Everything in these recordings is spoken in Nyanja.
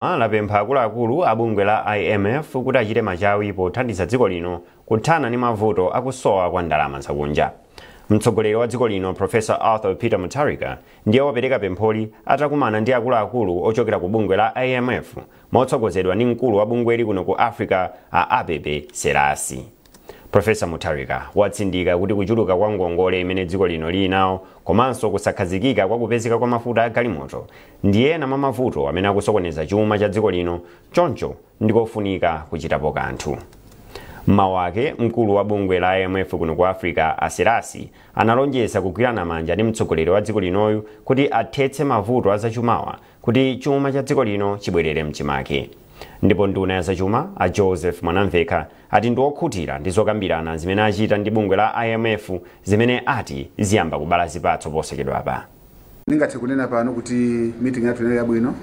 a lapempha akuluakulu a bungwe la IMF kuti achite machawi pothandiza dziko lino kuthana ndi mavuto akusowa kwa ndalama zakunja. Mtsogoleri wa dziko lino Professor Arthur Peter Mutharika ndiye wapereka pempholi atakumana ndi akuluakulu ochokera ku bungwe la IMF motsogozedwa ndi mkulu wa bungweli kuno ku Africa a Abebe Selassie. Professor Mutharika watsindika kuti kuchuluka kwa ngongole imene dziko lino lili nawo komanso kusakhazikika kwa kupezeka kwa mafuta a galimoto ndi ena mwa mavuto amene akusokoneza chuma cha dziko lino choncho ndikofunika kuchitapo kanthu. M'mawu ake, mkulu wa bungwe la IMF kuno ku Africa a Selassie analonjeza kugwirana manja ndi mtsogoleri wa dziko linoyu kuti athetse mavuto a zachumawa kuti chuma cha dziko lino chibwerere mchimake. Ndipo nduna ya zachuma a Joseph Mwanamvekha ati ndi okhutira ndi zokambirana zimene achita ndi bungwe la IMF zimene ati ziyamba kubala zipatso posachedwapa. Ndingathe kunena pano kuti meeting yathu inali yabwino.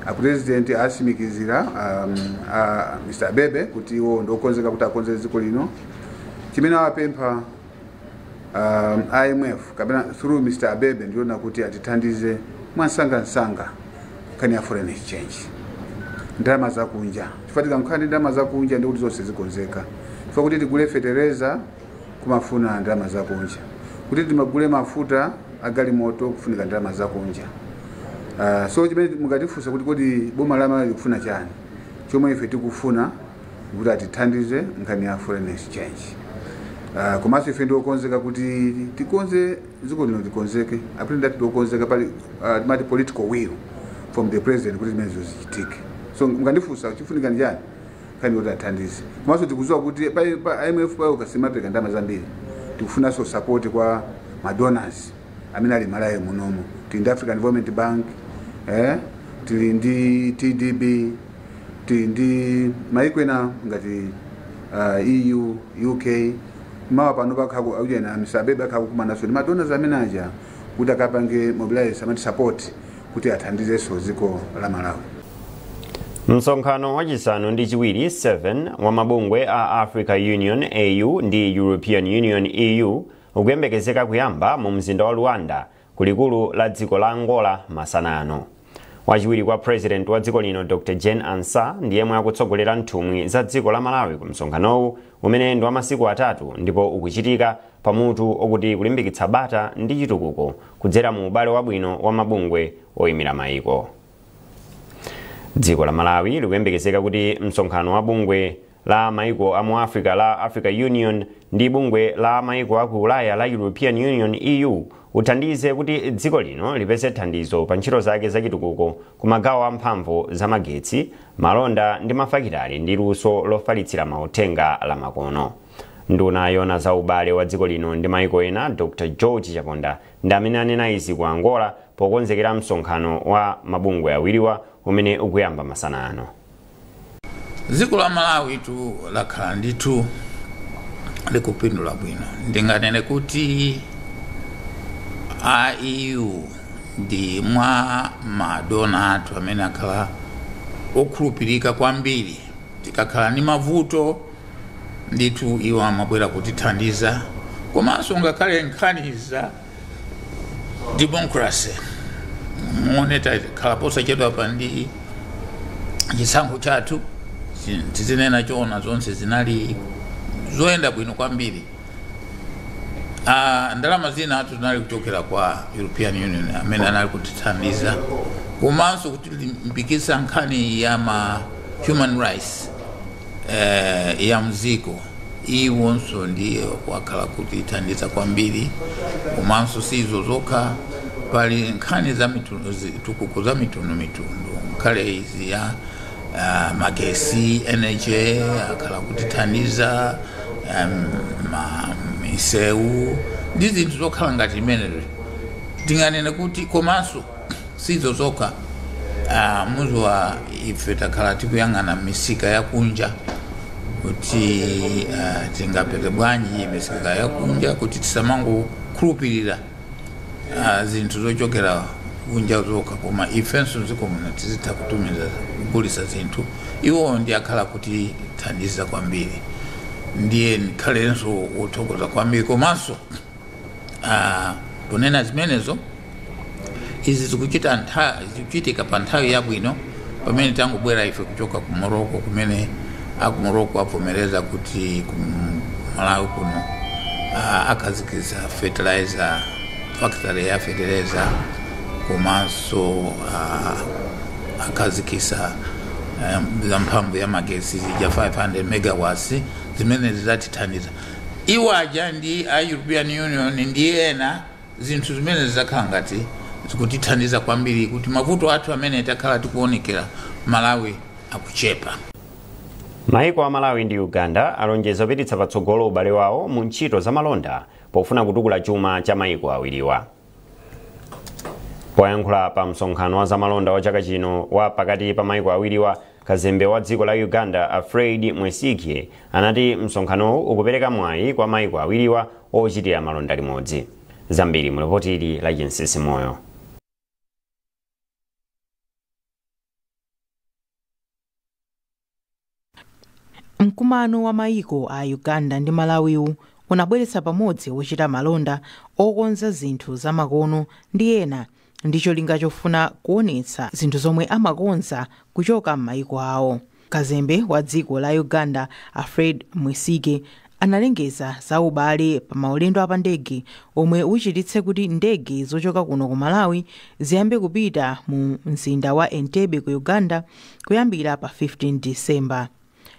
A president asimikizira um, a Mr. Abebe kuti iwo ndi okonzeka kuti akonze dziko lino. Chimene awapempha um, imf kapena through mr abebe ndi yonena kuti atithandize mwansangansanga nkhani ya foreign exchange ndalama zakunja chifukwa tikakhala ndi ndalama zakunja ndikuti zonse zikonzeka chifukwa kuti tigule fetereza kumafuna ndalama zakunja kuti timagule mafuta agalimoto kufunika ndalama zakunja uh, so chimene mungatifunsa kuti kodi boma la malawi likufuna chani chomwe ife tikufuna kuti atithandize nkhani ya foreign exchange uh, komanso ife ndiokonzeka kuti tikonze dziko lino likonzeke a president ndi okonzeka pali uh, amati political will from the president kuti zimenezo zichitike so mukandifunsa chifunika ndi chani nkhani yoti athandize komanso tikuziwa kuti pa, pa imf payokha simapereka ndalama zambiri tikufunanso support kwa ma donors amene ali malawi munomo tili ndi african development bank eh, tili ndi tdb tili ndi maiko ena ngati uh, eu uk mawa pano akhala ku aujeni Mr Abebe akhala kukumananso ndi ma donors amene aja kuti akapange mobilize amati support kuti athandizenso dziko la malawi msonkhano wachisanu ndi chiwiri 7 wa mabungwe a africa union au ndi european union eu ukuyembekezeka kuyamba mu mzinda wa luanda kulikulu la dziko la Angola masana ano. Wachiwiri kwa President wa dziko lino Dr Jane Ansah ndi yemwe akutsogolera nthumwi za dziko la Malawi ku msonkhanowu umene ndi wa masiku atatu ndipo ukuchitika pa mutu okuti kulimbikitsa bata ndi chitukuko kudzera mu ubale wabwino wa mabungwe oyimira mayiko. Dziko la Malawi likuyembekezeka kuti msonkhano wa bungwe la maiko a mu africa la africa union ndi bungwe la maiko a ku ulaya la european union eu uthandize kuti dziko lino lipeze thandizo pa ntchito zake zachitukuko ku magawo a mphamvu za magetsi malonda ndi mafakitale ndi luso lofalitsira mauthenga la makono nduna yoona za ubale wa dziko lino ndi maiko ena dr george chaponda ndi amene anena izi ku angola pokonzekera msonkhano wa mabungwe awiriwa umene ukuyamba masana ano dziko la malawitu lakhala ndithu likupindula bwino ndinganene kuti eu ndi mwa madona athu amene akhala okhulupirika kwambiri tikakhala ndi mavuto ndithu iwo amabwera kutithandiza komanso ngakhale nkhani za democracy muona takhala posachedwapa ndi chisankho chathu chi- tizinena choona zonse zinali zoyenda bwino kwambiri Ah, ndalama zinatu zinali kuchokera kwa european union amene anali kutithandiza komanso kutilimbikitsa nkhani ya ma human rights eh, ya mdziko iwonso ndiye wakhala kutithandiza kwambiri komanso si izo zokha pali nkhani za zitukuko za mitundu mitundu nkhale izi ya ah, magesi energy akhala kutithandiza em, ma- misewu ndi zinthu zokhala ngati imenezo tinganene kuti komanso sizo zokha ah, muziwa ife takhala tikuyang'ana misika yakunja kuti ah, tingapeze bwanji misika yakunja kuti tisamangokhulupirira ah, zinthu zochokera kunja zokha koma ifenso mdziko muno tizitha kutumiza kugulisa zinthu iwo ndiye akhala kutithandiza kwambiri ndiye ndikhalenso wothokoza kwambiri komanso Ah, kunena zimenezo izi zikuchita ntha- zikuchitika pa nthawi yabwino pamene tangobwera ife kuchoka ku moroko kumene aku moroko avomereza kuti ku malawi kuno ah, akhazikitsa fertilizer factory ya fertilizer komanso ah, akhazikitsa eh, za mphamvu ya magesi zija 500 megawatts zimene zidzatithandiza Iwo aja ndi a European Union ndi ena, zinthu zimene zizakhala ngati zikutithandiza kwambiri kuti mavuto athu amene takhala tikuonekera Malawi akuchepa. Maiko a Malawi ndi Uganda alonjeza kupititsa patsogolo ubale wawo mu ntchito za malonda pofuna kutukula chuma cha maiko awiriwa. Poyankhula pa msonkhano wa zamalonda wa chaka chino wa pakati pa maiko awiriwa, Kazembe wa dziko la Uganda a Fred Mwesigye anati msonkhanowu ukupereka mwayi kwa maiko awiriwa ochitira malonda limodzi. Zambiri mu lipoti ili la Chinsisi Moyo. Mkumano wa maiko a Uganda ndi Malawiwu unabweretsa pamodzi ochita malonda, okonza zinthu zamakono ndi ena ndi cholinga chofuna kuonetsa zinthu zomwe amakonza kuchoka m'mayiko awo kazembe wa dziko la uganda a fred mwesigye analengeza za ubale pa maulendo a pa ndege omwe uchititse kuti ndege zochoka kuno ku malawi ziyambe kupita mu mzinda wa entebbe ku uganda kuyambira pa 15 disemba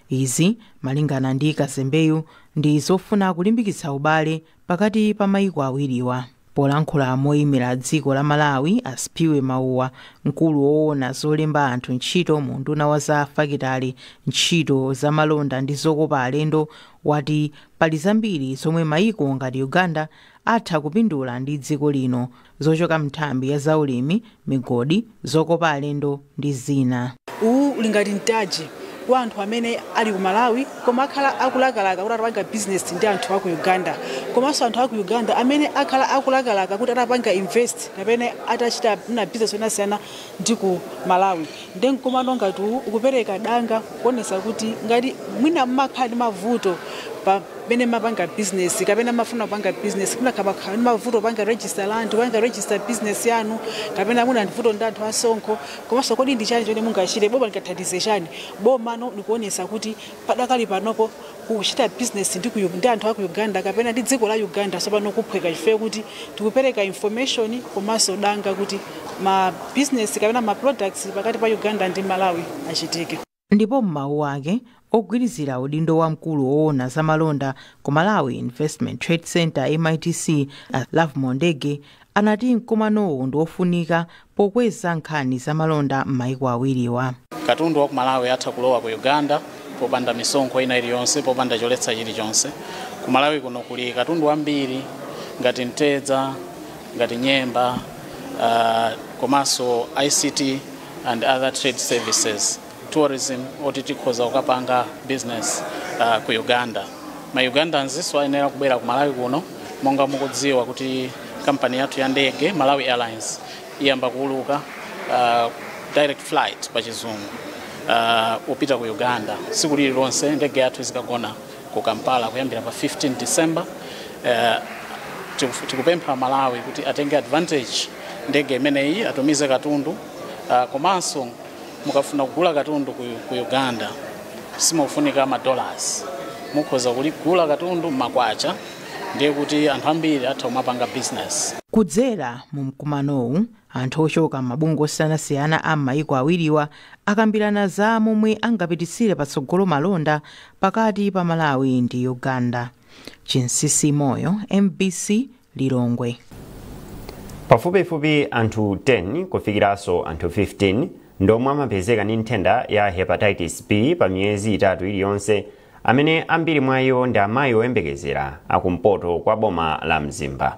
izi malingana ndi kazembeyu ndi zofuna kulimbikitsa ubale pakati pa maiko awiriwa. Polankhula moimira dziko la Malawi, a Sphiwe Mauwa, mkulu woona zolemba anthu ntchito mu unduna wa za fakitale, ntchito za malonda ndi zokopa alendo, wati pali zambiri zomwe maiko ngati Uganda atha kupindula ndi dziko lino zochoka m'nthambi ya zaulimi, migodi, zokopa alendo ndi zina. Uwu uli ngati mtaji kwa anthu amene ali ku Malawi koma akhala akulakalaka kuti atapanga business ndi anthu a ku Uganda komanso anthu a ku Uganda amene akhala akulakalaka kuti atapanga invest kapena atachita mwina business yosiyanasiyana ndi ku Malawi. Nde mkumano ngati uwu ukupereka danga kuonetsa kuti ngati mwina mumakhala ndi mavuto pamene mmapanga business kapena mmafuna kupanga business mwina kapakhala ndi mavuto kupanga register land, kupanga register business yanu kapena muna vuto ndi anthu a msonkho komanso kodi ndi chani chimene mungachite boma lingathandize chani, bomano likuonetsa kuti Padakali panopo kuchita business ndi, ku, ndi anthu aku Uganda kapena ndi dziko la Uganda tsopano kuphweka chifukwa kuti tikupereka information komanso danga kuti ma business kapena ma products pakati pa Uganda ndi Malawi achitike. Ndipo m'mawu ake, ogwirizira udindo wa mkulu owona za malonda ku Malawi Investment Trade Centre, MITC, a Lovemore Ndege anati mkumanowu ndi ofunika pokweza nkhani za malonda m'maiko awiriwa. Katundu wa ku Malawi atha kulowa ku Uganda popanda misonkho ina iliyonse, popanda choletsa chilichonse. Ku Malawi kuno kuli katundu wambiri ngati mtedza, ngati nyemba, uh, komanso ICT and other trade services. tourism oti tikhoza kukapanga business uh, ku uganda ma ugandanzinso ayenera kubwera ku malawi kuno monga mukudziwa kuti kampani yathu ya ndege malawi airlines iyamba kuuluka uh, direct flight pa chizungu uh, kupita ku uganda tsiku lililonse ndege yathu izikagona ku kampala kuyambira pa 15 december uh, tiku- tikupempha malawi kuti atenge advantage ndege imeneyi atumize katundu uh, komanso mukafuna kugula katundu ku, ku uganda simukufunika madollars mukhoza kugula katundu m'makwacha ndiye kuti anthu ambiri atha kumapanga business kudzera mu mkumanowu anthu ochoka m'mabungwe osiyanasiyana a m'mayiko awiriwa akambirana za momwe angapititsire patsogolo malonda pakati pa malawi ndi uganda chinsinsi moyo mbc Lilongwe. Pafupifupi anthu 10 kufikiranso anthu 15 ndiomwe amapezeka ndi nthenda ya Hepatitis B pa miyezi itatu iliyonse amene ambiri mwa iwo ndi amayi oyembekezera akumpoto kwa boma la Mzimba.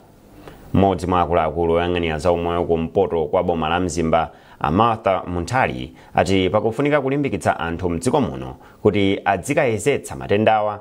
Mmodzi mwa akuluakulu oyang'anira za umoyo kumpoto kwa boma la Mzimba a Martha Munthali ati pakufunika kulimbikitsa anthu mdziko muno kuti adzikayezetsa matendawa